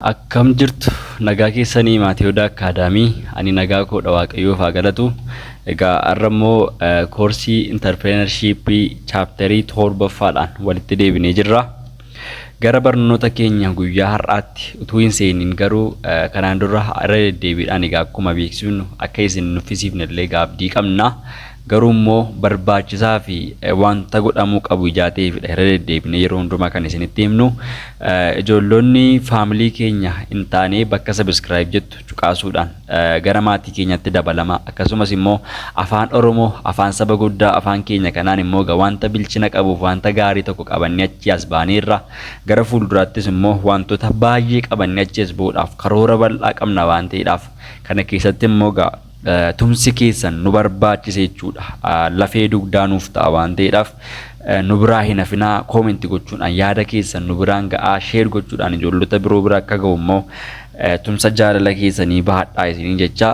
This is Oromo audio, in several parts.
Akkam jirtu nagaa keessanii maatii Odaa Akkaadaamii ani nagaa koodha waaqayyoof haa galatu. Egaa har'a immoo koorsii intarpireenarshiippii chaaptarii torbaffaadhaan walitti deebinee jirra. Gara barnoota keenya guyyaa har'aatti utuu hin seeniin garuu kanaan dura irra deddeebiidhaan egaa akkuma beeksifnu akka isin nuffisiifne illee egaa abdii qabna. Garuu immoo barbaachisaa fi wanta godhamuu qabu ijaa ta'eefidha irra deddeebinee yeroo hundumaa kan isinitti himnu. Ijoollonni faamilii keenya hin taane bakka sabiskiraayib jettu cuqaasuudhaan gara maatii keenyatti dabalama akkasumas immoo afaan oromoo afaan saba guddaa afaan keenya kanaan immoo ga wanta bilchina qabuuf wanta gaarii tokko qabannee achii as baaneerra gara fuulduraattis immoo wantoota baay'ee qabannee achii as ba'uudhaaf karoora bal'aa qabna waan ta'eedhaaf kana keessatti immoo ga tumsi keessan nu barbaachisa jechuudha lafee dugdaa nuuf ta'a waan ta'eedhaaf nu biraa hin hafinaa koomenti gochuudhaan yaada keessan nu biraan ga'aa sheer gochuudhaan ijoollota biroo bira akka ga'u immoo Tumsa jaalala keessanii bahadhaa isiniin jecha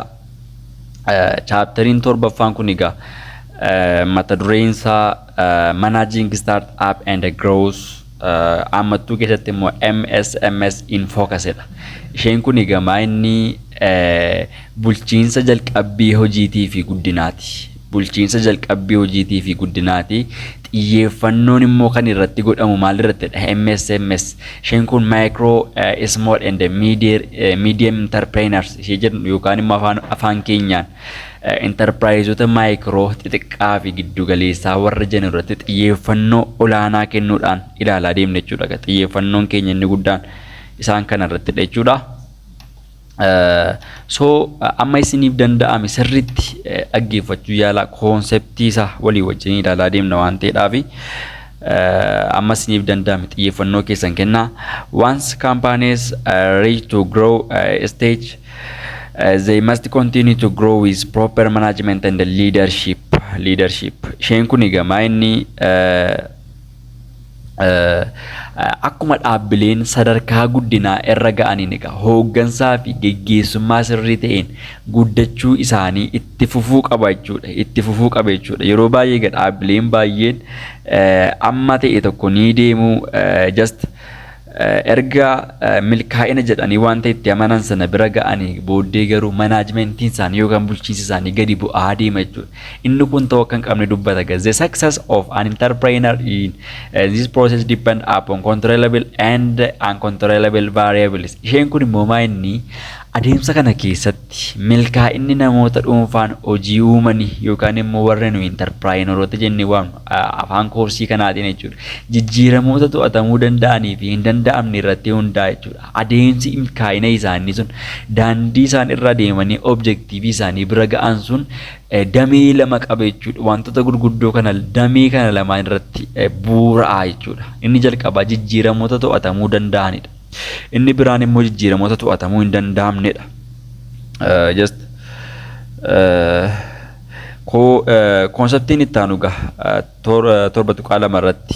chaaptariin torbaffaan kun egaa mata dureen isaa managing start up and growth ammattuu keessatti immoo MSMS in focus dha. Isheen kun egaa inni bulchiinsa jalqabbii hojiitii fi guddinaati. bulchiinsa jalqabbii hojiitii fi guddinaati. Xiyyeeffannoon immoo kan irratti godhamu maalirrattidha? MSMS. Isheen kun Micro, eh, Small and Medium, eh, Medium Enterpreneurs ishee jedhu yookaan immoo afaan, afaan keenyaan eh, enterpiraayizoota maayikiroo xixiqqaa fi giddugaleessaa warra jennu irratti xiyyeeffannoo olaanaa kennuudhaan ilaalaa deemna jechuudha. Xiyyeeffannoon keenya inni guddaan isaan kana irrattidha jechuudha. So amma isiniif danda'ame sirriitti dhaggeeffachuu yaalaa koonseptii isaa walii wajjin ilaalaa deemna waan ta'eedhaaf amma isiniif danda'ame xiyyeeffannoo keessan kennaa. Once companies uh, reach to grow uh, stage uh, they must continue to grow with proper management and leadership. leadership. Isheen kun egaa maa inni uh, akkuma dhaabbileen sadarkaa guddinaa irra ga'aniin egaa hooggansaa fi geggeessummaa sirrii ta'een guddachuu isaanii itti fufuu qaba jechuudha. Itti fufuu qaba jechuudha. Yeroo baay'ee egaa dhaabbileen baay'een amma ta'e tokko ni deemu just Erga milkaa'ina jedhanii wanta itti amanan sana bira ga'anii booddee garuu manaajimentiin isaanii yookaan bulchiinsi isaanii gadi bu'aa deema jechuudha. Inni kun ta'uu akka hin qabne dubbata. The success of an entrepreneur in this process depend upon controllable and uncontrollable variables. Isheen kun immoo maa inni adeemsa kana keessatti Milkaa'inni namoota dhuunfaan hojii uumani yookaan immoo warra nuyi intarpiraayinoorota jennee waamnu afaan koorsii kanaatiin jechuudha. Jijjiiramoota to'atamuu danda'anii fi hin danda'amne irratti hundaa'a jechuudha. Adeemsi milkaa'ina isaanii sun daandii isaan irra adeemanii objektiivii isaanii bira ga'an sun damee lama qaba jechuudha. Wantoota gurguddoo kana damee kana lamaan irratti bu'uura'a jechuudha. Inni jalqabaa jijjiiramoota to'atamuu danda'anidha. Inni biraan immoo jijjiiramoota to'atamuu hin danda'amnedha. Just koonseptiin itti aanu gaha torba tuqaa lama irratti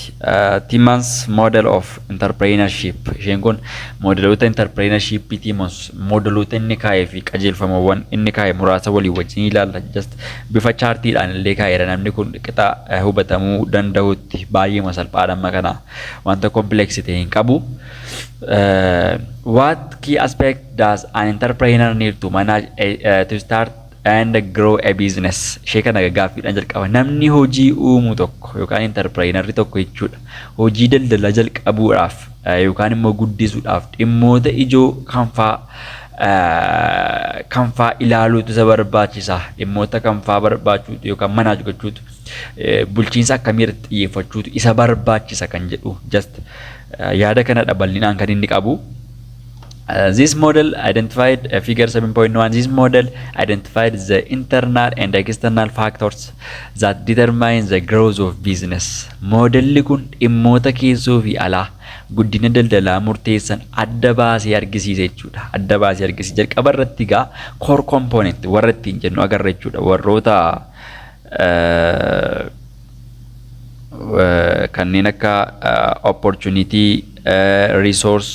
Timmans model of entrepreneurship isheen kun moodeloota entrepreneurship Timmans moodeloota inni kaa'ee fi qajeelfamawwan inni kaa'e muraasa walii wajjin ilaalla just bifa chaartiidhaan illee kaa'eera namni kun qixa hubatamuu danda'utti baay'eema salphaadha amma kanaa. wanta complex ta'e hin qabu. Uh, what key aspect does an entrepreneur need to manage a, uh, to start and grow a business? Ishee kana gaaffiidhaan jalqaba. Namni hojii uumu tokko yookaan entrepreneurri tokko jechuudha. Hojii daldalaa jalqabuudhaaf uh, yookaan immoo guddisuudhaaf dhimmoota ijoo kanfaa uh, kanfaa ilaaluutu isa barbaachisa. Dhimmoota kanfaa barbaachuutu yookaan manage gochuutu bulchiinsa akkamii irratti xiyyeeffachuutu isa barbaachisa kan jedhu just yaada kanadha bal'inaan kan inni qabu. This model identified uh, figure 7.1 this model identified the internal and external factors that determine the growth of business. Modelli kun dhimmoota keessoo fi alaa guddina daldalaa murteessan adda baasee argisiisa jechuudha. Adda baasee argisiisa. Jalqaba irratti egaa core component warra ittiin jennu agarra jechuudha. Warroota uh, kanneen akka opportunity resource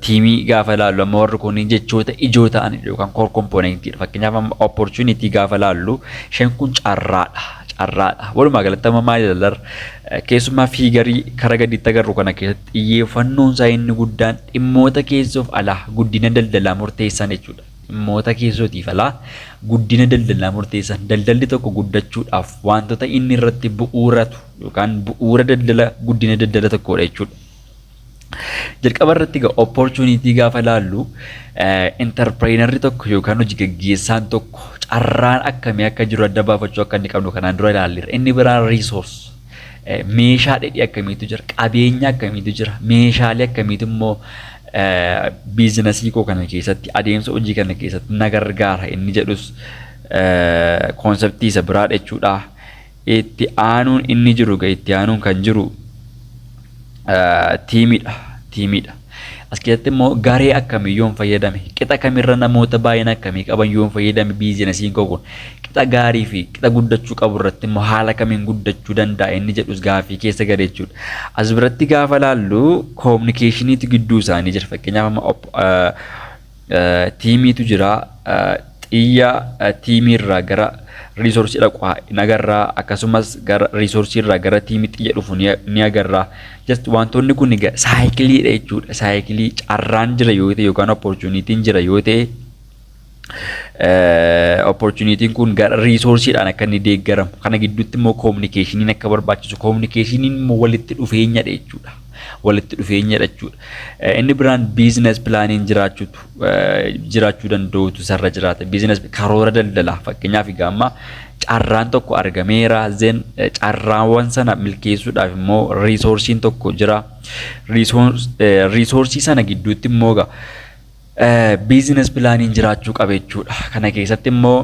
tiimii gaafa ilaallu amma warri kun jechoota ijoo ta'an yookaan core component dha fakkeenyaaf amma opportunity gaafa ilaallu isheen kun carraadha carraadha walumaa galatti amma maal ilaallar keessumaa fiigarii kara gadiitti agarru kana keessatti xiyyeeffannoon isaa inni guddaan dhimmoota keessoof alaa guddina daldalaa murteessan jechuudha. Dhimmoota keessootiif alaa guddina daldalaa murteessan daldalli tokko guddachuudhaaf waantota inni irratti bu'uuratu yookaan bu'uura daldala guddina daldala tokkoodha jechuudha. Jalqaba irratti egaa opportunity gaafa ilaallu interpireenarri tokko yookaan hojii gaggeessaan tokko carraan akkamii akka jiru adda baafachuu akka inni qabnu kanaan dura ilaalleera. Inni biraan resource meeshaa dheedhii akkamiitu jira, qabeenya akkamiitu jira, meeshaalee akkamiitu immoo biizinasii koo kana keessatti adeemsa hojii kana keessatti na gargaara inni jedhus koonseptii isa biraa jechuudha. Itti aanuun inni jiru itti aanuun kan jiru tiimiidha. Tiimiidha. As keessatti immoo garee akkamii yoon fayyadame, qixa kamirra namoota baay'ina akkamii qaban yoon fayyadame biizinasiin koo kun qixa gaarii fi qixa guddachuu qabu irratti immoo haala kamiin guddachuu danda'a inni jedhus gaaffii keessa gale jechuudha. As biratti gaafa laallu kominikeeshiniitu gidduu isaanii jira. Fakkeenyaaf amma Tiimiitu jira. Xiyya tiimiirraa gara riisoorsii dhaqu hin agarra. Akkasumas gara riisoorsiirraa gara tiimii xiyya dhufu ni agarra. Just wantoonni kun egaa saayikiliidha jechuudha. Saayikilii carraan jira yoo ta'e yookaan opportunitiin jira yoo ta'e opportunitiin kun gara riisoorsiidhaan akka inni deeggaramu. Kana gidduutti immoo koominikeeshiniin akka barbaachisu. Koominikeeshiniin immoo walitti dhufeenyadha jechuudha. walitti dhufeenya jechuudha. Inni biraan biizines pilaaniin jiraachuutu jiraachuu danda'utu isarra jiraata. Biizines karoora daldalaa fakkeenyaaf egaa amma carraan tokko argameera zen carraawwan sana milkeessuudhaaf immoo riisoorsiin tokko jira. Riisoorsii sana gidduutti immoo egaa Biizinas pilaaniin jiraachuu qaba jechuudha. Kana keessatti immoo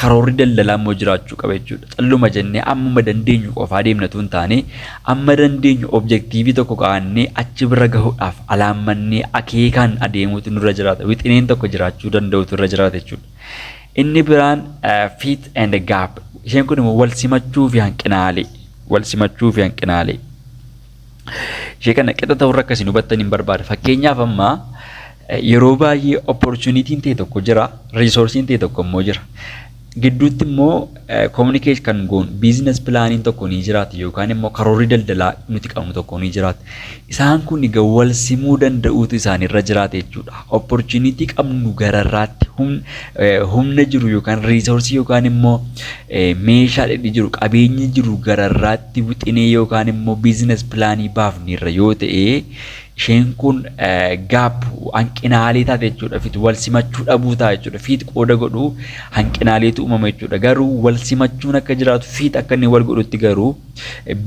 karoorri daldalaa immoo jiraachuu qaba jechuudha. Calluma jennee ammuma dandeenyu qofaa deemnatu hin taane amma dandeenyu objektiivii tokko kaa'annee achi bira gahuudhaaf alaammannee akeekaan adeemuutu nurra jiraata. Wixineen tokko jiraachuu danda'utu irra jiraata jechuudha. Inni biraan fit and gap isheen kun immoo wal simachuu fi hanqinaalee wal simachuu fi hanqinaalee. Ishee kana qixa ta'urra akka isin hubattan hin barbaada. Fakkeenyaaf amma yeroo baay'ee opportunitiin ta'e tokko jira, resoursiin ta'e tokko immoo jira. Gidduutti immoo communicate kan goon business plaaniin tokko ni jiraata yookaan immoo karoorri daldalaa nuti qabnu tokko ni jiraata. Isaan kun egaa wal simuu danda'uutu isaanirra jiraata jechuudha. Opportunity qabnu gararraatti humna jiru yookaan reesoorsii yookaan immoo meeshaa dhedhi jiru qabeenyi jiru gararraatti itti wixinee yookaan immoo biizines pilaanii baafneerra yoo ta'e isheen kun gaap hanqinaalee taate jechuudha fit wal simachuu dhabuu ta'a jechuudha fiit qooda godhu hanqinaaleetu uumama jechuudha garuu wal simachuun akka jiraatu fiit akka inni wal godhutti garuu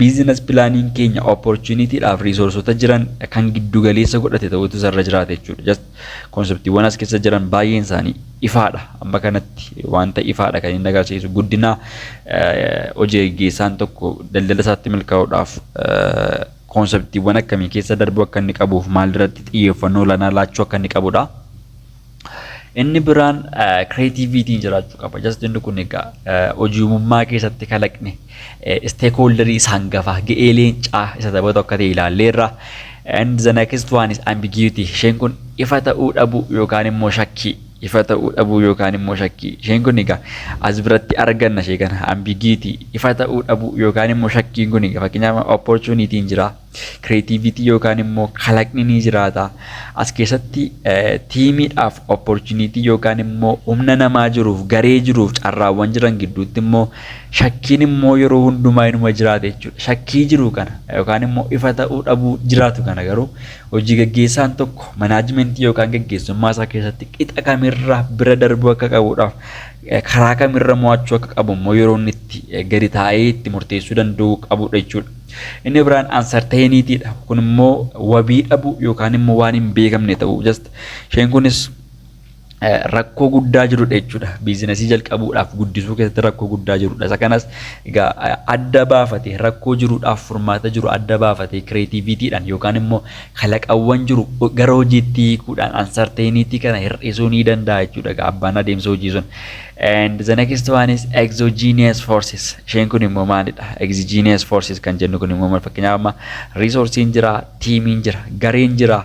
biizines pilaaniin keenya opportunitiidhaaf riisoorsota jiran kan giddu galeessa godhate ta'utu isarra jiraata jechuudha. Konseptiiwwan as keessa jiran baay'een isaanii ifaadha. Amma kanatti wanta ifaadha kan inni agarsiisu guddina hojii gaggeessaan tokko daldala isaatti milkaa'uudhaaf konseptiiwwan akkamii keessa darbuu akka inni qabuuf maalirratti xiyyeeffannoo olaanaa laachuu akka inni qabudha. Inni biraan kireetiiviitiin jiraachuu qaba. Jasti inni kun egaa hojii uumummaa keessatti kalaqni Isteekhooldarii isa hangafaa, ga'ee leencaa isa taphatu akka ta'e ilaalleerra. And the next one is ambiguity. Isheen kun ifa ta'uu dhabuu yookaan immoo shakkii. Ifa ta'uu dhabuu yookaan immoo shakkii. Isheen kun egaa as biratti arganna ishee kana ambiguity. Ifa ta'uu dhabuu yookaan immoo shakkiin kun egaa fakkeenyaaf opportunity hin jiraa. Creativity yookaan immoo kalaqni ni jiraata. As keessatti tiimiidhaaf opportunity yookaan immoo humna namaa jiruuf garee jiruuf carraawwan jiran gidduutti immoo shakkiin immoo yeroo hundumaa inuma jiraata jechuudha. Shakkii jiru kana yookaan immoo ifa ta'uu dhabuu jiraatu kana garuu hojii gaggeessaan tokko manaajimentii yookaan gaggeessummaa isaa keessatti qixa kamirraa bira darbuu akka qabuudhaaf karaa kamirra mo'achuu akka qabu immoo yeroo inni itti gadi taa'ee itti murteessuu danda'u qabudha jechuudha. Inni biraan uncertainty dha. Kun immoo wabii dhabu yookaan immoo waan hin beekamne ta'u. Just isheen kunis eh, rakkoo guddaa jirudha jechuudha. Biizinasii jalqabuudhaaf guddisuu keessatti rakkoo guddaa jirudha. Isa kanas egaa eh, adda baafate rakkoo jiruudhaaf furmaata jiru adda baafate kireetiivitiidhaan yookaan immoo kalaqawwan jiru gara hojiitti hiikuudhaan uncertainty kana hir'isuu ni danda'a jechuudha. Egaa abbaan adeemsa hojii sun And the next one is exogenous forces. Isheen kun immoo maalidha? Exogenous forces kan jennu kun immoo maal fakkeenyaaf amma resourceen jira, tiimiin jira, gareen jira.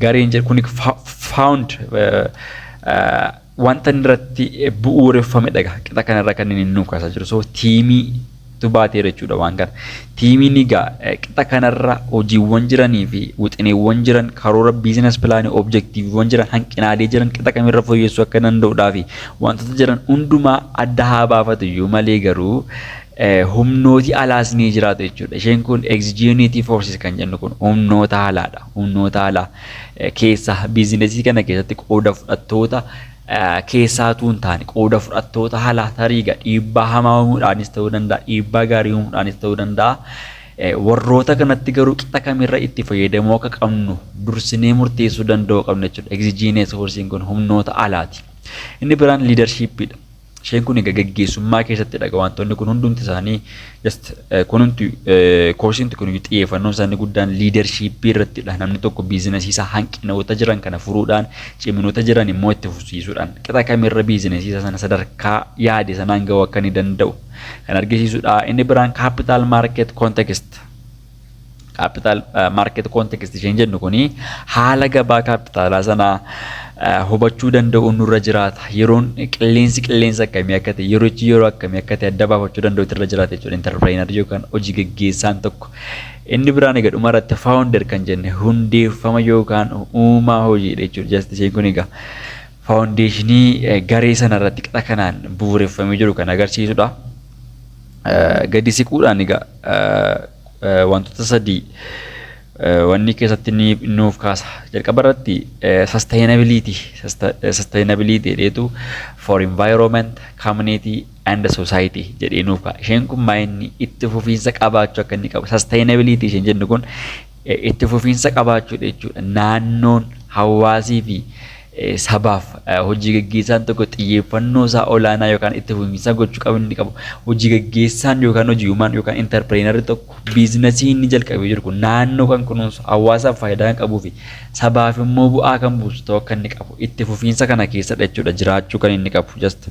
Gareen jira kun found wanta irratti bu'uureffamedha. Qixa kanarra kan inni nu kaasaa jiru. So tiimii tu baateera jechuudha waan kana. Tiimiin egaa qixa kanarra hojiiwwan jiranii fi wixineewwan jiran karoora biizinas pilaanii objektiiviiwwan jiran hanqinaalee jiran qixa kamirra fooyyessuu akka danda'udhaa fi wantoota jiran hundumaa adda haa baafatu iyyuu malee garuu humnooti alaas ni jiraatu jechuudha. Isheen kun exigenitii forces kan jennu kun humnoota alaadha. Humnoota alaa keessa biizinesii kana keessatti qooda fudhattoota keessaa utuu hin taane qooda fudhattoota halaa tariiga dhiibbaa hamaa uumuudhaanis ta'uu danda'a dhiibbaa gaarii uumuudhaanis ta'uu danda'a warroota kanatti garuu qixa kamirra itti fayyadamuu akka qabnu dursinee murteessuu danda'uu qabna jechuudha. Egzijiinee soorsiin kun humnoota alaati. Inni biraan liidarshiippiidha. Isheen kun egaa gaggeessummaa keessatti dhaga wantoonni kun hundumti isaanii just kunumti koorsiinti kun xiyyeeffannoon isaanii guddaan liidarshiippii irrattidha. Namni tokko biizinasii isaa hanqinoota jiran kana furuudhaan ciminoota jiran immoo itti fufsiisuudhaan qixa kamirra biizinasii isaa sana sadarkaa yaade sanaan ga'uu akka inni danda'u kan argisiisudha. Inni biraan kaappitaal maarkeet koontekist Capital market context isheen jennu kuni haala gabaa kaappitaalaa sana hubachuu danda'uun nurra jiraata. Yeroon qilleensi qilleensa akkamii akka ta'e, yerochi yeroo akkamii akka ta'e adda baafachuu danda'u irra jiraata jechuudha. Interpireenarri yookaan hojii gaggeessaan tokko. Inni biraan egaa dhuma irratti founder kan jenne hundeeffama yookaan uumaa hojiidha jechuudha. Just isheen kun egaa faawundeeshinii garee sana irratti qara kanaan bu'uureffamee jiru kan agarsiisudha. gadi siquudhaan egaa wantoota sadii wanni keessatti ni nuuf kaasa. Jalqaba irratti sustainability sustainability jedheetu for environment, community and society jedhee nuuf kaasa. Isheen kun maayinni itti fufiinsa qabaachuu akka inni qabu sustainability isheen jennu kun itti fufiinsa qabaachuudha jechuudha. Naannoon, hawaasii fi sabaaf hojii gaggeessaan tokko xiyyeeffannoo isaa olaanaa yookaan itti fufiinsa gochuu qabu inni qabu hojii gaggeessaan yookaan hojii uumaan yookaan intarpireenarri tokko biizinasii inni jalqabee jiru kun naannoo kan kunuunsu hawaasaaf faayidaa kan qabuu fi sabaaf immoo bu'aa kan buusu ta'uu akka inni qabu itti fufiinsa kana keessadha jechuudha jiraachuu kan inni qabu jasta.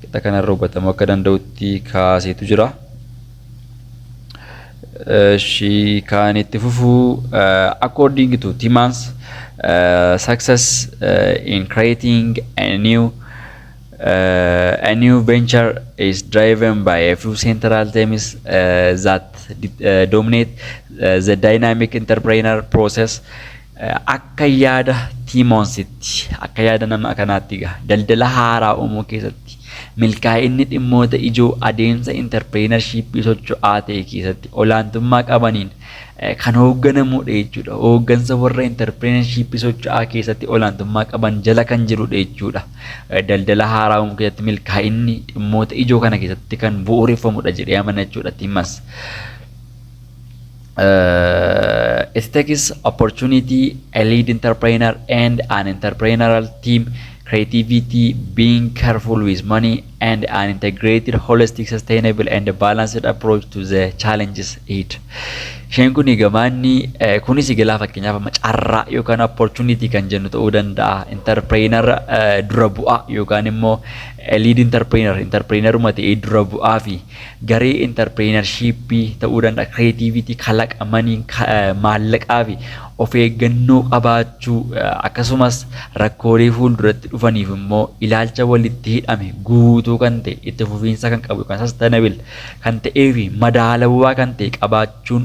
qixa kanarra hubatamuu akka danda'utti kaaseetu jira. Ishii kan itti fufu according to Timmans success in creating a new a new venture is driven by a few central themes that dominate the dynamic entrepreneur process Akka yaada Tiimoonsitti, akka yaada nama kanaatti egaa, daldala haaraa uumuu keessatti milkaa'inni dhimmoota ijoo adeemsa intarpireenarshiippii socho'aa ta'e keessatti olaantummaa qabaniin kan hoogganamudha jechuudha. Hooggansa warra intarpireenarshiippii socho'aa keessatti olaantummaa qaban jala kan jirudha jechuudha. Daldala haaraa uumuu keessatti milkaa'inni dhimmoota ijoo kana keessatti kan bu'uureffamudha jedhee amana jechuudha Tiimas. uh, it takes opportunity, a lead entrepreneur, and an entrepreneurial team, creativity, being careful with money, and an integrated, holistic, sustainable, and balanced approach to the challenges ahead. Isheen kun gamaanni eh, kunis egaa fakkeenyaaf amma carraa yookaan opportunity kan jennu ta'uu danda'a. Interprener eh, dura bu'aa yookaan immoo eh, lead interprener, interpreneruma ta'ee dura bu'aa fi garee intarpireenarshiippii ta'uu danda'a, kireetiiviitii, kalaqa, maniin, maallaqaa fi of eeggannoo qabaachuu akkasumas rakkoolee fuulduratti dhufaniif immoo ilaalcha walitti hidhame guutuu kan ta'e itti fufiinsa kan qabu yookaan sustainable kan ta'ee fi madaalawaa kan ta'e qabaachuun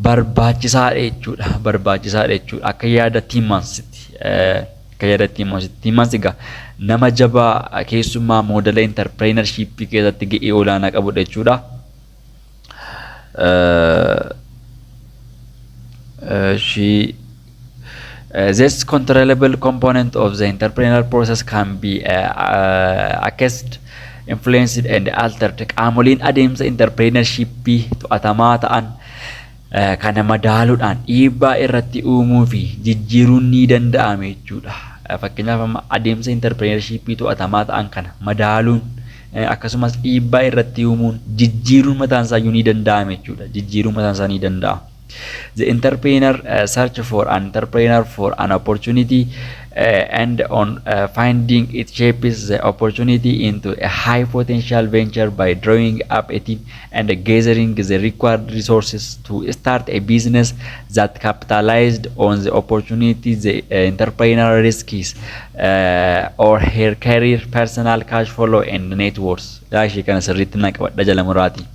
barbaachisaadha jechuudha. Barbaachisaadha jechuudha. Akka yaada Tiimansitti. Akka yaadatti immoo asitti himas egaa nama jabaa keessumaa moodela intarpireenarshiippii keessatti ga'ee olaanaa qabudha jechuudha. She this controllable component of the entrepreneurial process can be uh, uh, accessed, influenced and altered. Qaamoleen adeemsa entrepreneurship to'atamaa ta'an Kana madaaluudhaan dhiibbaa irratti uumuu fi jijjiiruun ni danda'ame jechuudha. Fakkeenyaaf amma adeemsa interpireenarshiippii to'atamaa ta'an kana madaaluun akkasumas dhiibbaa irratti uumuun jijjiiruun mataan isaayyuu ni danda'ame jechuudha. Jijjiiruun mataan isaa ni danda'ama. The entrepreneur uh, search for an entrepreneur for an opportunity uh, and on uh, finding it shapes the opportunity into a high potential venture by drawing up a team and gathering the required resources to start a business that capitalized on the opportunity the uh, entrepreneurial risks uh, or her career personal cash flow and net worth daashii kana sirriitti na qabadha jala muraati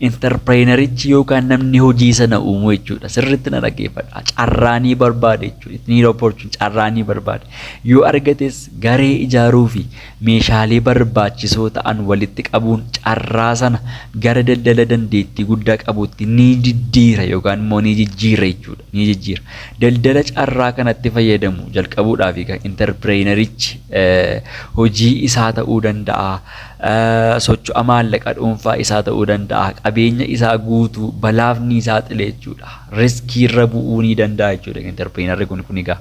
interpireenarichi yookaan namni hojii sana uumuu jechuudha sirriitti na dhaggeeffadha carraanii barbaade jechuudha ittiin opportunity carraanii barbaade yoo argates garee ijaaruu fi Meeshaalee barbaachisoo ta'an walitti qabuun carraa sana gara daldala dandeettii guddaa qabuutti ni diddiira yookaan immoo ni jijjiira jechuudha. Ni jijjiira. Daldala carraa kanatti fayyadamu jalqabuudhaaf kan interpireenerichi hojii isaa ta'uu danda'a, socho'a maallaqa dhuunfaa isaa ta'uu danda'a, qabeenya isaa guutuu balaaf ni saaxile jechuudha. Riskiirra bu'uu ni danda'a jechuudha interpireenerri kun kun egaa.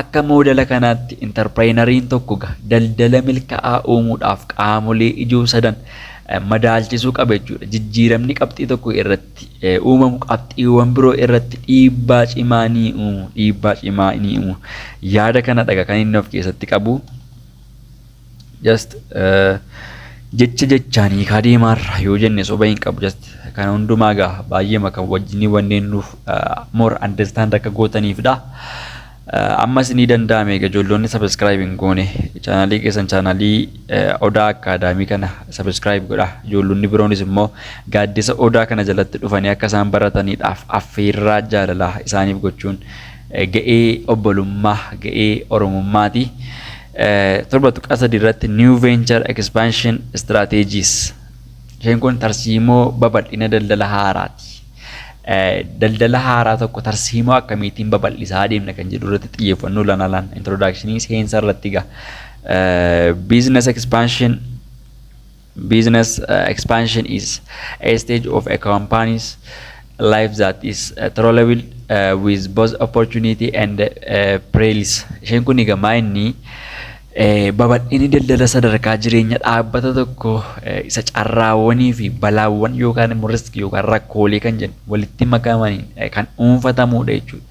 Akka moodela kanaatti intarpireenariin tokko ga daldala milka'aa uumuudhaaf qaamolee ijoo sadan madaalchisuu qaba jechuudha. Jijjiiramni qabxii tokko irratti uumamu qabxiiwwan biroo irratti dhiibbaa cimaa ni uumu. Dhiibbaa cimaa ni uumu. Yaada kanadha kan inni of keessatti qabu. just jecha jechaan hiikaa deemaarra yoo jenne soba hin qabu just kana hundumaa gaa baay'eema kan wajjinii wanneen nuuf more understand akka gootaniifdha. Ammas ni danda'ame egaa ijoolloonni subscribe hin goone chaanaalii keessan chaanaalii odaa akkaadaamii kana subscribe godha ijoollonni biroonis immoo gaaddisa odaa kana jalatti dhufanii akka isaan barataniidhaaf affeerraa jaalalaa isaaniif gochuun ga'ee obbolummaa ga'ee oromummaati. 7.3 irratti New Venture Expansion Strategies isheen kun tarsiimoo babal'ina daldala haaraati. Daldala haaraa tokko tarsiimoo akkamiitiin babal'isaa adeemna kan jedhu irratti xiyyeeffannoo olaanaa laanna. Introductionii seensa irratti egaa business expansion Business expansion is a stage of a company's life that is troubled with both opportunity and perils. Isheen kun egaa maa inni babal'inni daldala sadarkaa jireenya dhaabbata tokko isa carraawwanii fi balaawwan yookaan immoo riskii yookaan rakkoolee kan jedhu walitti makamaniin kan dhuunfatamudha jechuudha.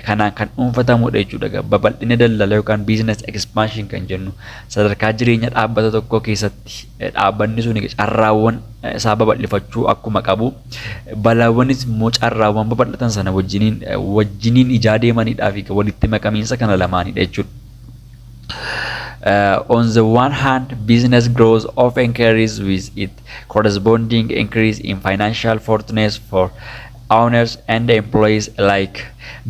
kanaan kan dhuunfatamudha jechuudha. Babal'ina daldala yookaan business expansion kan jennu sadarkaa jireenya dhaabbata tokkoo keessatti dhaabbanni sun carraawwan isaa babal'ifachuu akkuma qabu balaawwanis immoo carraawwan babal'atan sana wajjiniin wajjiniin ijaa deemanidhaa fi walitti makamiinsa kana lamaanidha jechuudha. Uh, on the one hand, business growth often carries with it corresponding increase in financial fortunes for owners and employees alike.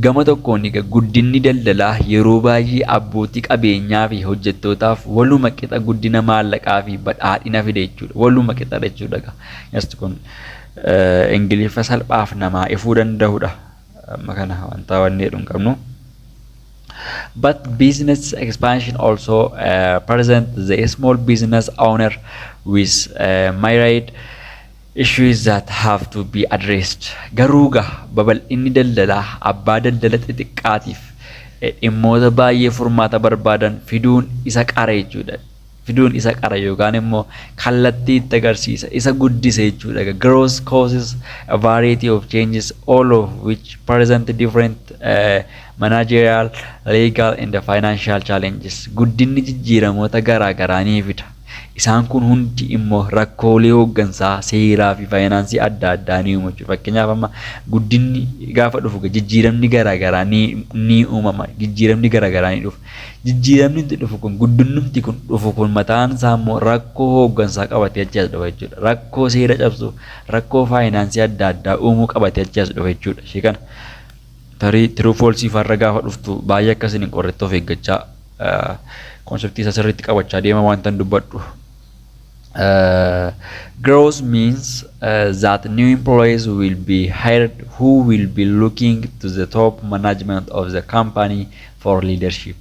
Gama tokkoon egaa guddinni daldalaa yeroo baay'ee abbootii qabeenyaa fi hojjettootaaf waluma qixa guddina maallaqaa fi badhaadhina fida jechuudha. Waluma qixadha jechuudha egaa. Just kun Ingiliffa salphaaf namaa ifuu danda'udha. Amma kana wantaa wanni jedhu hin qabnu. But business expansion also uh, present the small business owner with uh, myriad issues that have to be addressed garuu ga babal'inni daldalaa abbaa daldala xixiqqaatiif dhimmoota baay'ee furmaata barbaadan fiduun isa qara jechuudha. fiduun isa qara yookaan immoo kallattii itti agarsiisa isa guddise jechuudha. Growth causes a variety of changes all of which present different uh, managerial, legal and financial challenges. Guddinni jijjiiramoota garaa garaa ni fida. Isaan kun hundi immo rakkoolee hooggansaa, seeraa fi faayinaansii adda addaa ni uumu. Fakkeenyaaf amma guddinni gaafa dhufu jijjiiramni garaa garaa ni uumama. Jijjiiramni garaa garaa ni dhufa. Jijjiiramni dhufu kun guddinnumti kun dhufu kun mataan isaa immoo rakkoo hooggansaa qabatee achi as dhufa jechuudha. Rakkoo seera cabsuu, rakkoo faayinaansii adda addaa uumuu qabatee achi as dhufa jechuudha. Ishee kana Tarii true false faa irra gaafa dhuftu baay'ee akka isin hin qorretti of eeggachaa konseptii isa sirriitti qabachaa deema wanta hin dubbadhu. Uh, growth means uh, that new employees will be hired who will be looking to the top management of the company for leadership.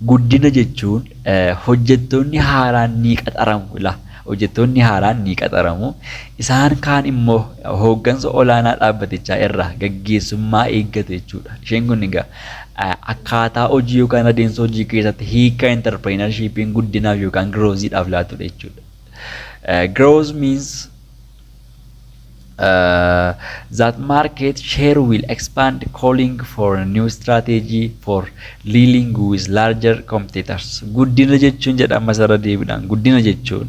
Guddina jechuun hojjettoonni haaraan ni qaxaramu. Ila. Hojjettoonni haaraan ni qaxaramu. Isaan kaan immoo hooggansa olaanaa dhaabbatichaa irraa gaggeessummaa eeggatu jechuudha. Isheen kun egaa akkaataa hojii yookaan adeemsa hojii keessatti hiika interpireenarshiipiin guddinaaf yookaan girooziidhaaf laatudha jechuudha. Growth means Uh, that market share will expand calling for a new strategy for dealing with larger competitors. Guddina jechuun jedha ammas irra deebiidhaan guddina jechuun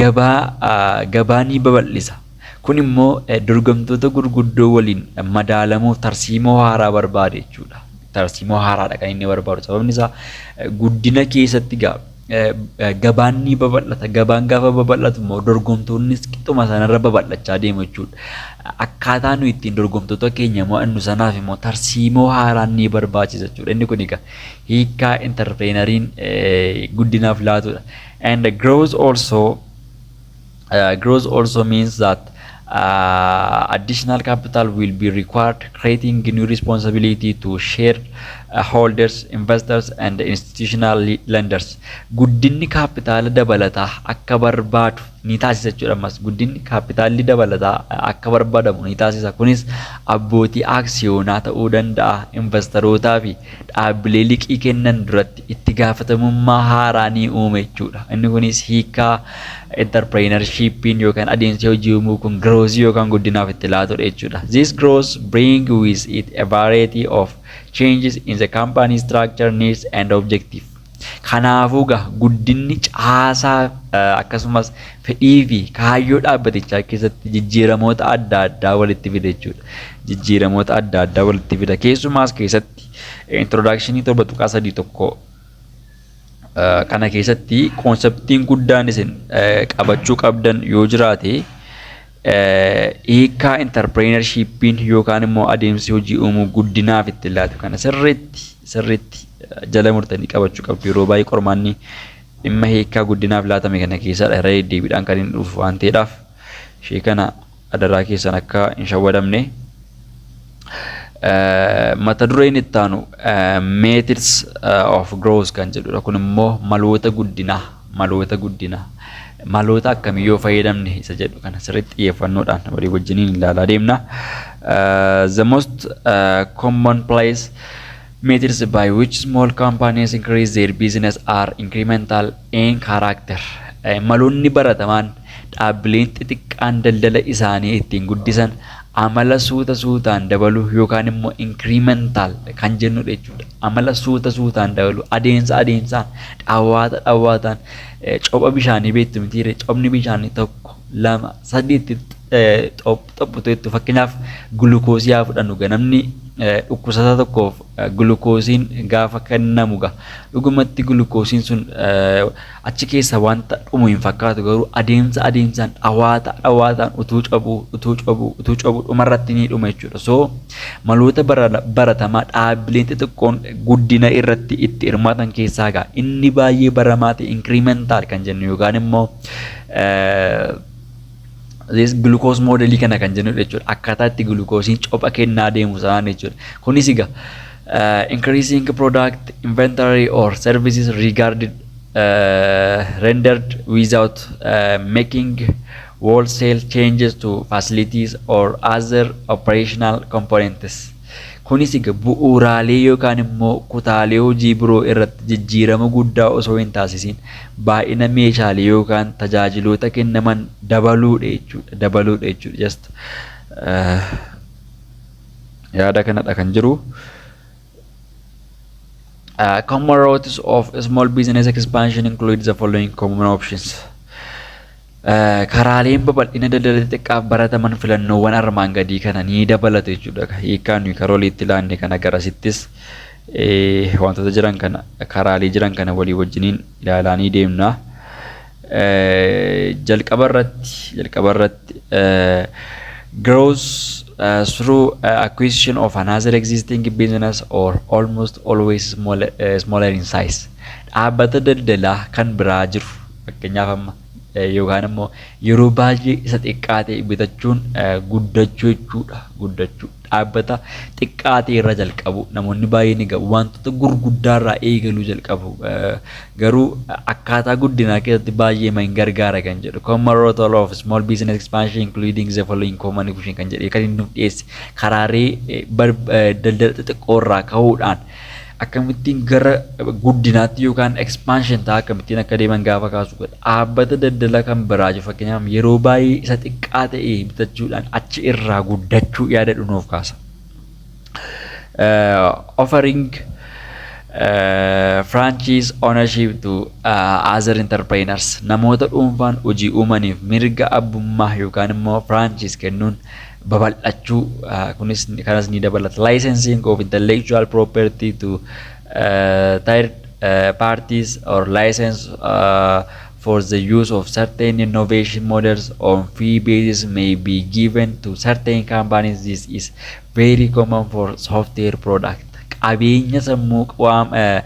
gabaa uh, gabaa ni babal'isa. Kun immoo eh, dorgomtoota gurguddoo waliin madaalamuuf tarsiimoo haaraa barbaada jechuudha. Tarsiimoo haaraadha kan inni barbaadu sababni isaa eh, guddina keessatti gaa gabaan ni babal'ata. Gabaan gaafa babal'atu immoo dorgomtoonnis qixuma sanarra babal'achaa deemu jechuudha. Akkaataa nuyi ittiin dorgomtoota keenya mo'annu sanaaf immoo tarsiimoo haaraan ni barbaachisa jechuudha. Inni kun egaa hiikaa intarpireenariin guddinaaf laatudha. And growth also Growth also means that uh, additional capital will be required, creating new responsibility to share uh, holders, investors, and institutional le- lenders. Guddinni kaapitaala dabalataa akka barbaadu ni taasisa jechuudha. Ammas guddinni kaapitaalli dabalataa uh, akka barbaadamu ni taasisa. Kunis abbootii aksiyoonaa ta'uu danda'a, invastarootaa fi dhaabbilee liqii kennan duratti itti gaafatamummaa haaraa ni uume jechuudha. Inni kunis hiikaa enterpireenarshiippiin yookaan adeemsi hojii uumuu kun giroosii yookaan guddinaaf itti laatudha jechuudha. This growth bring with it a variety of changes in the company structure, needs and objective. Kanaafuu egaa guddinni caasaa akkasumas fedhii fi kaayyoo dhaabbatichaa keessatti jijjiiramoota adda addaa walitti fida jechuudha. Jijjiiramoota adda addaa walitti fida. Keessumaas keessatti introdakshinii torba tuqaa sadii tokko kana keessatti koonseptiin guddaan isin qabachuu qabdan yoo jiraate Hiikkaa intarpireenarshiippiin yookaan immoo adeemsi hojii uumuu guddinaaf itti laatu kana sirriitti sirriitti jala murtanii qabachuu qabdu. Yeroo baay'ee qormaanni dhimma hiikkaa guddinaaf laatame kana keessadha irra deddeebiidhaan kan inni dhufu waan ta'eedhaaf ishee kana adaraa keessan akka hin shawwadamne. Mata dureen itti aanu methods of growth kan jedhudha. Kun immoo maloota guddinaa maloota guddinaa maloota akkamii yoo fayyadamne isa jedhu kana sirriitti xiyyeeffannoodhaan walii wajjiniin ilaalaa deemna. The most common place Methods by which small companies increase their business are incremental in character. Maloonni baratamaan dhaabbileen xixiqqaan daldala isaanii ittiin guddisan amala suuta suutaan dabaluu yookaan immoo incremental kan jennudha jechuudha. Amala suuta suutaan dabaluu adeemsa adeemsaan dhawwaata dhawwaataan copha bishaanii beektu mitiire cophni bishaanii tokko lama sadiitti xophutu jettu fakkeenyaaf gulukoosii haa fudhannu ga namni dhukkubsataa tokkoof gulukoosiin gaafa kennamu ga dhugumatti gulukoosiin sun achi keessa wanta dhumu hin fakkaatu garuu adeemsa adeemsaan dhawaata dhawaataan utuu cabuu utuu cabuu utuu cabuu dhumarratti ni dhuma jechuudha so maloota baratamaa dhaabbileen xixiqqoon guddina irratti itti hirmaatan keessaa gaa inni baay'ee baramaa ta'e inkiriimentaal kan jennu yookaan immoo this glucose modelii kana kan jennu jechuudha. Akkaataa itti glukoosiin copha kennaa deemu sanaan jechuudha. Kunis egaa uh, increasing product inventory or services regarded uh, rendered without uh, making wholesale changes to facilities or other operational components. Kunis egaa bu'uuraalee yookaan immoo kutaalee hojii biroo irratti jijjiirama guddaa osoo hin taasisiin baay'ina meeshaalee yookaan tajaajiloota kennaman dabaluudha jechuudha. Dabaluudha jechuudha. Just yaada kanadha kan jiru. Uh, common routes of small business expansion include the following common options. Karaaleen babal'ina daldala xixiqqaaf barataman filannoowwan armaan gadii kana ni dabalatu jechuudha. Hiikkaan nuyi karaa oliitti laanne kana garasittis wantoota jiran kana karaalee jiran kana walii wajjiniin ilaalaa ni deemna. Jalqaba irratti jalqaba irratti growth uh, through uh, acquisition of another existing business or almost always smaller, uh, smaller in size. Dhaabbata daldalaa kan biraa jiru Fakkeenyaaf amma yookaan immoo yeroo baay'ee isa xiqqaa ta'e bitachuun guddachuu jechuudha. Guddachuu dhaabbata xiqqaa ta'e irra jalqabu namoonni baay'een egaa wantoota gurguddaa irraa eegaluu jalqabu. Garuu akkaataa guddinaa keessatti baay'ee ma hin gargaara kan jedhu common role of small business expansion including the following common equation kan jedhee kan inni nuuf dhiyeesse karaalee daldala xixiqqoo irraa ka'uudhaan akkamittiin gara guddinaatti yookaan expansion ta'a akkamittiin akka deeman gaafa kaasu godha. Dhaabbata daldala kan biraa jiru fakkeenyaaf yeroo baay'ee isa xiqqaa ta'e bitachuudhaan achi irraa guddachuu yaada dhunuuf kaasa. Offering franchise ownership to other entrepreneurs namoota dhuunfaan hojii uumaniif mirga abbummaa yookaan immoo franchise kennuun babal'achuu kunis kanas ni dabalata. Licensing of intellectual property to uh, third uh, parties or license uh, for the use of certain innovation models on fee basis may be given to certain companies. This is very common for software product. Qabeenya sammuu qaama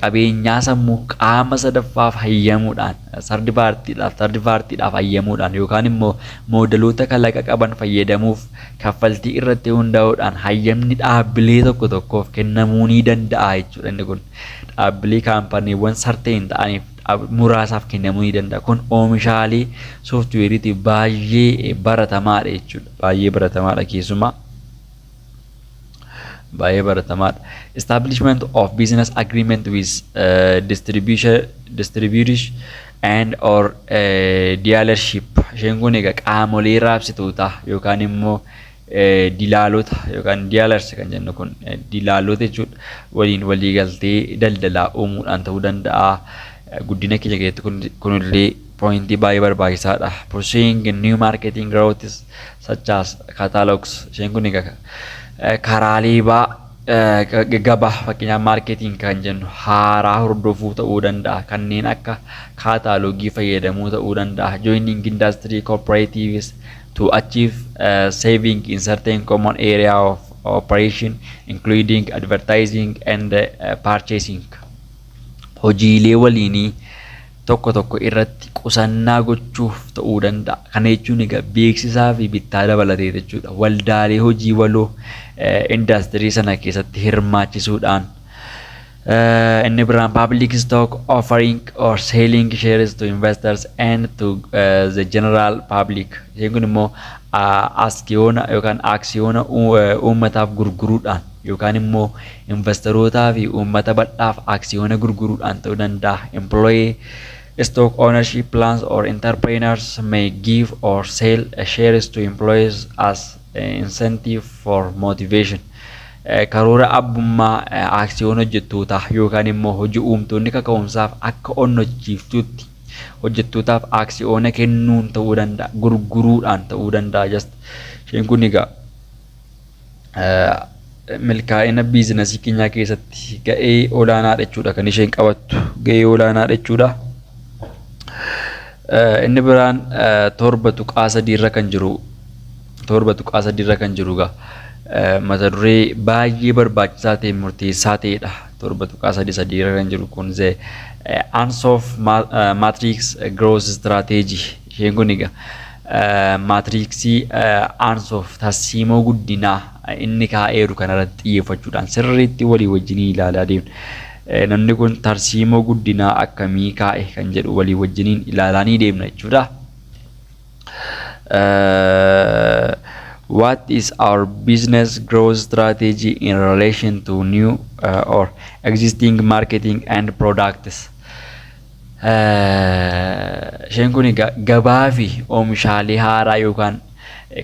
qabeenyaa sammuu qaama sadaffaaf hayyamuudhaan Sardi paartiidhaaf, third party, dhaaf hayyamuudhaan yookaan immoo moodaloota kalaqa qaban fayyadamuuf kaffaltii irratti hundaa'uudhaan hayyamni dhaabbilee tokko tokkoof kennamuu ni danda'a jechuudha. Inni kun dhaabbilee kaampaniiwwan sarteen ta'aniif muraasaaf kennamuu ni danda'a. Kun oomishaalee sooftiweeriitiif baay'ee baratamaadha jechuudha. Baay'ee baratamaadha keessumaa. baay'ee baratamaadha. Establishment of business agreement with uh, distribution, distributors and or uh, dealership. Isheen kun egaa qaamolee raabsitootaa yookaan immoo eh, dilaalota yookaan dealers kan jennu kun eh, dilaalota jechuudha waliin waliigaltee daldalaa uumuudhaan ta'uu danda'a. Eh, Guddina keenya keessatti kun- kunillee Pointii baay'ee barbaachisaadha. Pursuing new marketing routes such as catalogs. Isheen kun egaa karaalee baa gabaa fakkeenyaaf maarkeetiin kan jennu haaraa hordofuu ta'uu danda'a. Kanneen akka kaataalogii fayyadamuu ta'uu danda'a. Joining industry cooperatives to achieve uh, saving in certain common area of operation including advertising and uh, purchasing. Hojiilee waliinii tokko tokko irratti qusannaa gochuuf ta'uu danda'a. Kana jechuun egaa beeksisaa fi bittaa dabalatee jechuudha. Waldaalee hojii waloo indaastirii sana keessatti hirmaachisuudhaan inni biraan public stock offering or selling shares to investors and to uh, the general public isheen kun immoo aksiyoona yookaan aksiyoona uummataaf gurguruudhaan yookaan immoo Invastarootaa fi uummata bal'aaf aksiyoona gurguruudhaan ta'uu danda'a. Employee stock ownership plans or entrepreneurs may give or sell shares to employees as incentive for motivation. Karoora abbummaa aksiyoona hojjettootaa yookaan immoo hojii uumtoonni kaka'umsaaf akka onnachiiftuutti hojjettootaaf aksiyoona kennuun ta'uu danda'a. Gurguruudhaan ta'uu danda'a. Just isheen kun egaa milkaa'ina biizinasii keenyaa keessatti ga'ee olaanaa jechuudha kan isheen qabattu ga'ee olaanaa jechuudha. Inni biraan torba tuqaa sadiirra kan jiru torba tuqaa sadiirra kan jiru egaa mata duree baay'ee barbaachisaa ta'e murteessaa ta'edha. Torba tuqaa sadii sadiirra kan jiru kun ze Ansof Matrix Growth Strategy isheen kun egaa Maatiriiksii Aansoof tarsiimoo guddinaa inni kaa'eeru kanarratti xiyyeeffachuudhaan sirriitti walii wajjin ilaalaa deemna. Namni kun tarsiimoo guddinaa akkamii kaa'e kan jedhu walii wajjiniin ilaalaa ni deemna jechuudha. What is our business growth strategy in relation to new or existing marketing and products? Isheen kun egaa gabaa fi oomishaalee haaraa yookaan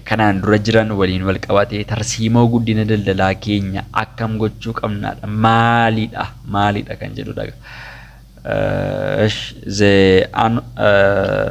kanaan dura jiran waliin wal qabatee tarsiimoo guddina daldalaa keenya akkam gochuu qabnaadha maalidha maalidha kan jedhudha. Uh, ish, the an, uh,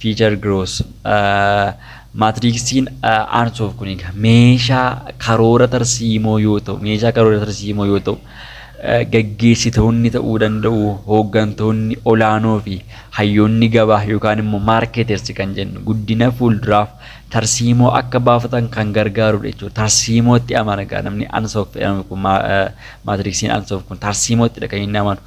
Fiichar Giroos. Maatiriiksiin Aansoof kun egaa meeshaa karoora tarsiimoo yoo ta'u, meeshaa karoora tarsiimoo yoo ta'u, gaggeessitoonni ta'uu danda'u, hooggantoonni olaanoo fi hayyoonni gabaa yookaan immoo maarkeetersi kan jennu guddina fuulduraaf tarsiimoo akka baafatan kan gargaarudha jechuudha. Tarsiimootti amana egaa namni Aansoof jedhamu kun maatiriiksiin Aansoof kun tarsiimoottidha kan inni amanu.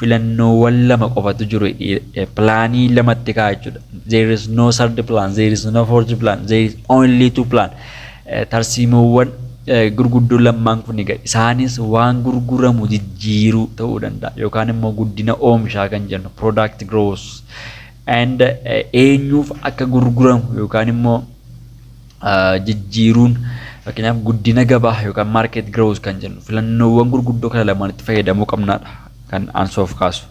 filannoowwan lama qofatu jiru pilaanii lamatti ka'a jechuudha. There is no third plan, there is no fourth plan, there is only two plan. Tarsiimoowwan gurguddoo lammaan kun egaa isaanis waan gurguramu jijjiiruu ta'uu danda'a yookaan immoo guddina oomishaa kan jennu product growth and eenyuuf akka gurguramu yookaan immoo jijjiiruun fakkeenyaaf guddina gabaa yookaan market growth kan jennu filannoowwan gurguddoo kana lamaanitti fayyadamuu qabnaadha kan ansoof kaasu.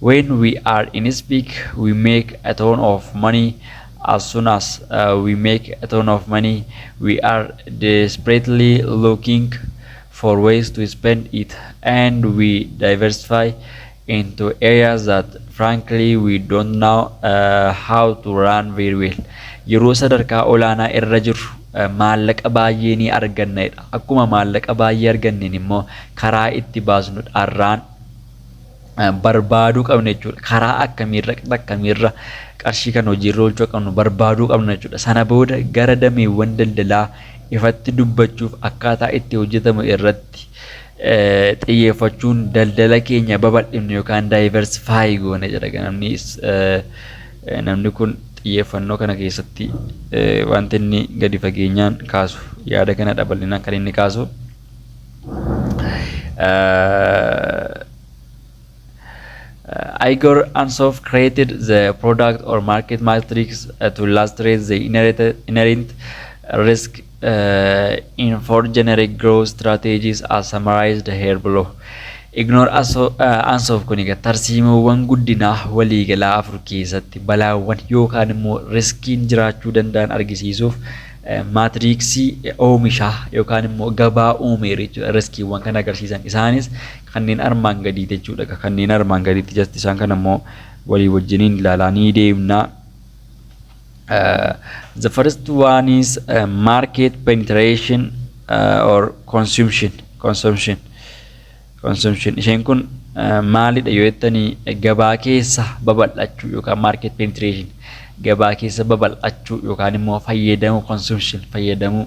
When we are in speak, we make a ton of money. As soon as uh, we make a ton of money, we are desperately looking for ways to spend it and we diversify into areas that frankly we don't know uh, how to run very well. Yeroo sadarkaa olaanaa irra jirru uh, maallaqa baay'ee ni arganna jedha. Akkuma maallaqa baay'ee arganneen immoo karaa itti baasnu dharraan uh, barbaaduu qabna jechuudha. Karaa akkamiirra akkamiirra qarshii kan hojiirra oolchuu qabnu barbaaduu qabna jechuudha. Sana booda gara dameewwan daldalaa ifatti dubbachuuf akkaataa itti hojjetamu irratti xiyyeeffachuun daldala keenya babal'ifne yookaan diversify goone jedha egaa namni is- eh, namni kun xiyyeeffannoo kana keessatti eh, wanti inni gadi fageenyaan kaasu yaada kana dhabal'inaan kan inni kaasu eh, Igor Ansoff created the product or market matrix uh, to illustrate the inherent, inherent risk uh, in four generic growth strategies as summarized here below. Ignore Aso- uh, Ansoff kun egaa tarsiimoowwan guddinaa waliigalaa afur keessatti balaawwan yookaan immoo riskiin jiraachuu danda'an argisiisuuf eh, maatriiksii eh, oomishaa yookaan immoo gabaa uumeera jechuudha riskiiwwan kan agarsiisan isaanis kanneen armaan gadii jechuudha ka kanneen armaan gadiitti jasti isaan kana immoo walii wajjiniin ilaalaa ni deemna. Uh, the first one is uh, market penetration uh, or consumption consumption consumption isheen kun uh, maalidha yoo jettanii gabaa keessa babal'achuu yookaan market penetration gabaa keessa babal'achuu yookaan immoo fayyadamuu consumption fayyadamuu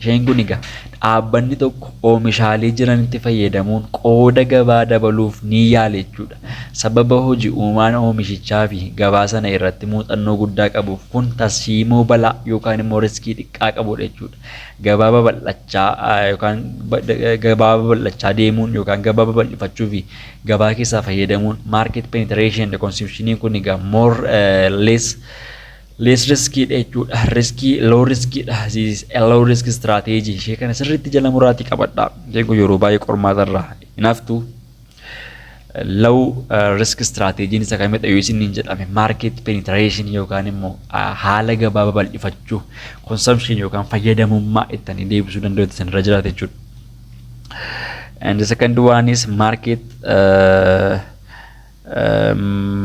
Isheen kun egaa dhaabbanni tokko oomishaalee jiranitti fayyadamuun qooda gabaa dabaluuf ni yaale jechuudha. Sababa hoji uumaan oomishichaa fi gabaa sana irratti muuxannoo guddaa qabuuf kun tarsiimoo balaa yookaan immoo riskii xiqqaa qabudha jechuudha. Gabaa babal'achaa yookaan gabaa babal'achaa deemuun yookaan gabaa babal'ifachuu fi gabaa keessaa fayyadamuun market penetration consumption kun egaa more less Less risk dha jechuudha. Risk low risk dha. This is a low risk strategy. Ishee kana sirriitti jala muraatii qabadha. Isheen kun yeroo baay'ee qormaata irraa hin haftu. Low uh, risk strategy isa kamidha yoo isin hin jedhame market penetration yookaan immoo uh, haala gabaa babal'ifachuu consumption yookaan fayyadamummaa ittanii deebisuu danda'u isin irra jiraata jechuudha. And the second one is market uh,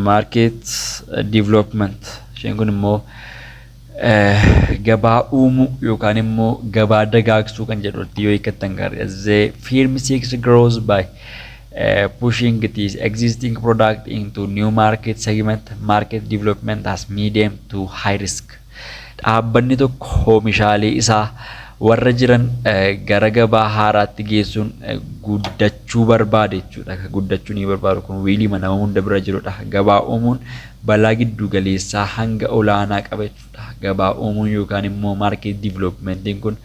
Market development isheen kun immoo gabaa uumuu yookaan immoo gabaa dagaagsuu kan jedhutti yoo hiikkattan gaariidha. The firm seeks growth by uh, pushing its existing product into new market segment. Market development has medium to high risk. Dhaabbanni tokko hoomishaalee isaa warra jiran gara gabaa haaraatti geessuun guddachuu barbaade jechuudha. Ka guddachuu ni barbaadu kun wiiliima nama hunda bira jirudha. Gabaa uumuun balaa giddu galeessaa hanga olaanaa qaba jechuudha. Gabaa uumuun yookaan immoo maarkeet diiviloopimentiin kun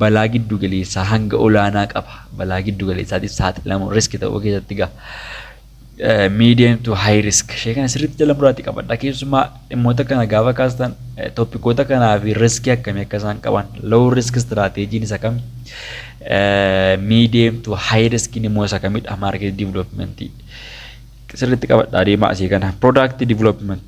balaa giddu galeessaa hanga olaanaa qaba. Balaa giddu galeessaatiif saaxilamuun riski ta'uu keessatti gaha. medium to high risk ishee kana sirriitti jala muraatti qabadha keessumaa dhimmoota kana gaafa kaastan toppikoota kanaa fi riskii akkamii akka isaan qaban low risk strategiin isa kami medium to high risk immoo isa kamidha market development sirriitti qabadha adeemaa asii kana product development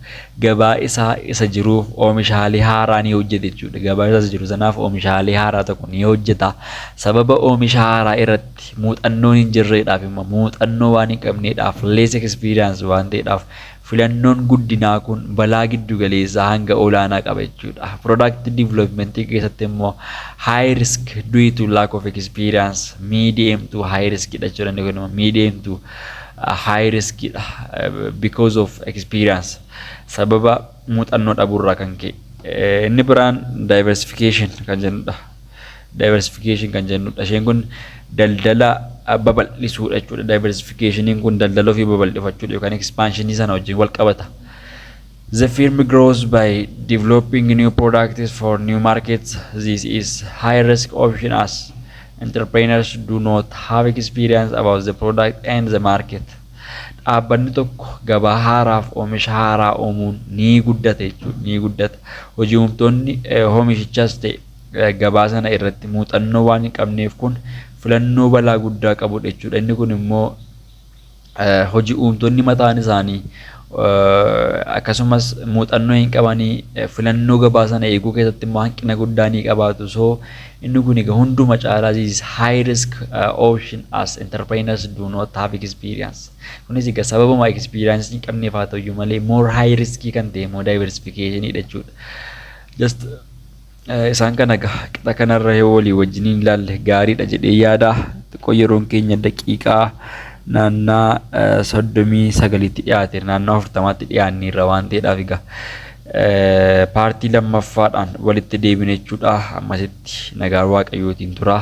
gabaa isaa isa jiruuf oomishaalee haaraa ni hojjeta jechuudha. Gabaa isaa isa jiru sanaaf oomishaalee haaraa tokko ni hojjeta. Sababa oomisha haaraa irratti muuxannoon hin jirreedhaaf immoo muuxannoo waan hin qabneedhaaf less experience waan ta'eedhaaf filannoon guddinaa kun balaa giddu galeessaa hanga olaanaa qaba jechuudha. Product development keessatti immoo high risk due to lack of experience medium to high risk dha jechuudha. Inni kun immoo medium to high risk dha because of experience sababa muuxannoo dhabuurraa kan ka'e. Eh, Inni biraan diversification kan jennudha. Diversification kan jennudha. Isheen kun daldala ah, babal'isuudha jechuudha. Diversificationiin kun daldala ofii babal'ifachuudha yookaan expansionii sana wajjin wal qabata. The firm grows by developing new products for new markets. This is high risk option as entrepreneurs do not have experience about the product and the market. Dhaabbanni tokko gabaa haaraaf oomisha haaraa uumuun ni guddata jechuudha. Ni guddata. Hojii uumtoonni oomishichas ta'e gabaa sana irratti muuxannoo waan hin qabneef kun filannoo balaa guddaa qabudha jechuudha. Inni kun immoo hoji uumtonni mataan isaanii akkasumas muuxannoo hin qabanii filannoo gabaa sana eeguu keessatti immoo hanqina guddaa ni qabaatu. So inni kun egaa hunduma caalaa this is high risk uh, option as entrepreneurs do not have experience. Kunis egaa sababuma experience hin qabneef haa ta'u malee more high risk kan ta'e immoo diversification dha jechuudha. Just Isaan kana egaa qixa kanarra yoo walii wajjin hin ilaalle gaariidha jedhee yaada. Xiqqoo yeroon keenya daqiiqaa naannaa soddomii sagalitti dhiyaate naannaa afurtamaatti dhiyaanneerra waan ta'eedhaaf egaa paartii lammaffaadhaan walitti deebina jechuudha. Ammasitti nagaan waaqayyootiin tura.